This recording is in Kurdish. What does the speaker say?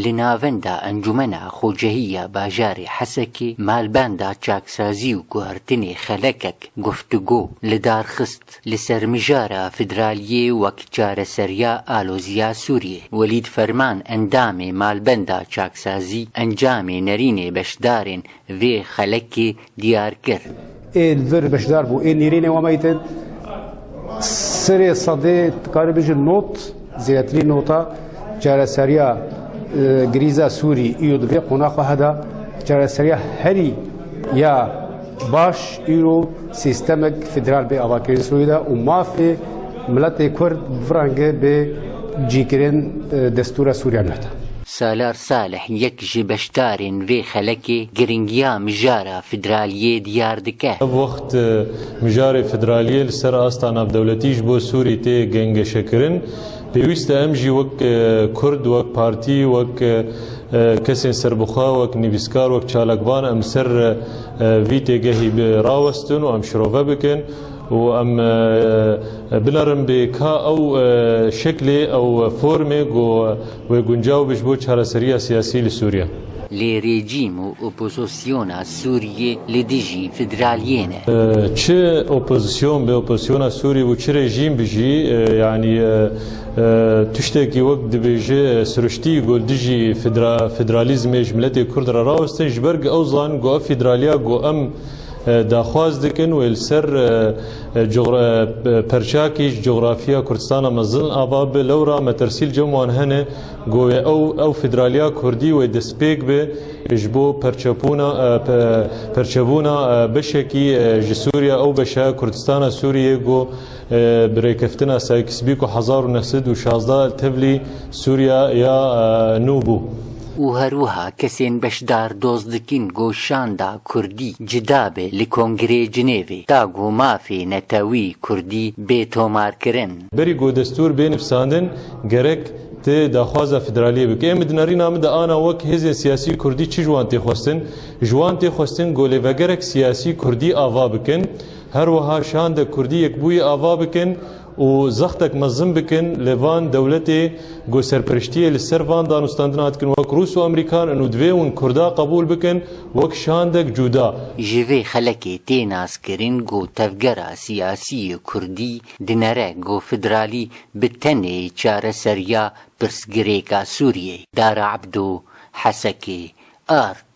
Li navenda Encûmena Xwecehî ya Bajarê Hesekê malbenda çaksazî û guhertinê xelekek guftûgo li dar xist li ser mijara federaliyê wek çareseriya aloziya Sûriyê. Welîd Ferman endamê malbenda çaksazî encamê nerînê beşdarên vê xelekê diyar kir. Ê li vir beşdar bû. Ê nêrînê wan beyî te sirê sedê tu karî bijî not zêdetirî nota çareseriya grîza sûrî îro di vê qonaxa heda çareseriya herî ya baş îro sîstemek federal bê avakirin sûrî de û mafê miletê kurd bi vî rengê bê cîkirin destûra sûriya nû heta. Salar Salih yek ji beşdarên vê xelekê girîngiya mijara federaliyê diyar dike. Ev wext mijarê federaliyê li ser asta navdewletî ji bo Sûrî tê gengeşekirin. Pêwîst e em jî wek Kurd, wek partî, wek kesên serbixwe, wek nivîskar, wek çalakvan em li ser vî têgehî rawestin û em şirove bikin û em binerin bê ka ew şeklê, ew formê ku Wê guncaw be ji bo çareseriya siyasî li Sûriye. Lê rejîm û opozosyona Sûriyê li dijî federaliyê ne. Çi opozisyon be, opozisyona Sûriyê bû çi rejîm bi jî yanî tiştekî wek dibêje siruştî ku li dijî federalîzmê ji miletê Kurd re rawestin ji ber ku ew zanin ku ev federaliya ku em daxwaz dikin wê li ser perçakî ji cografiya Kurdistana mezin ava bi lewra metirsîl cem wan hene ku wê ew ew federaliya Kurdî wê destpêk be ji bo perçebûna beşekî ji Sûriya ew beşa Kurdistana Sûriyê ku Bi rêkeftina Sykes-Bîko hezar û neh sed û şazdeh tevlî Sûriya ya nû bû. û her wiha kesên beşdar doz dikin ku şanda Kurdî cida be li Kongreyê Cinêvê ta ku mafê netewî Kurdî bê tomarkirin. Berî ku destûr bê nivsandin gerek ti daxwaza federaliyê bike. Em di nerîna min de ana wek hêzên siyasî Kurdî çi ji wan tê xwestin? Ji wan tê xwestin ku lêvegerek siyasî Kurdî ava bikin Her wiha şandek kurdî yekbûyî ava bikin û zextek mezin bikin li van dewletê ku serperiştiyê li ser van danûstandinan dikin wek rûs û emerîkan in û divê wn kurda qebûl bikin wek şandek cûda. Ji vê xelekê tê naskirin ku tevgera siyasî yê kurdî dinere ku federalî bi tenê çareseriya pirsgirêka Sûriyê, Dara Ebdo, Hesekê, ark,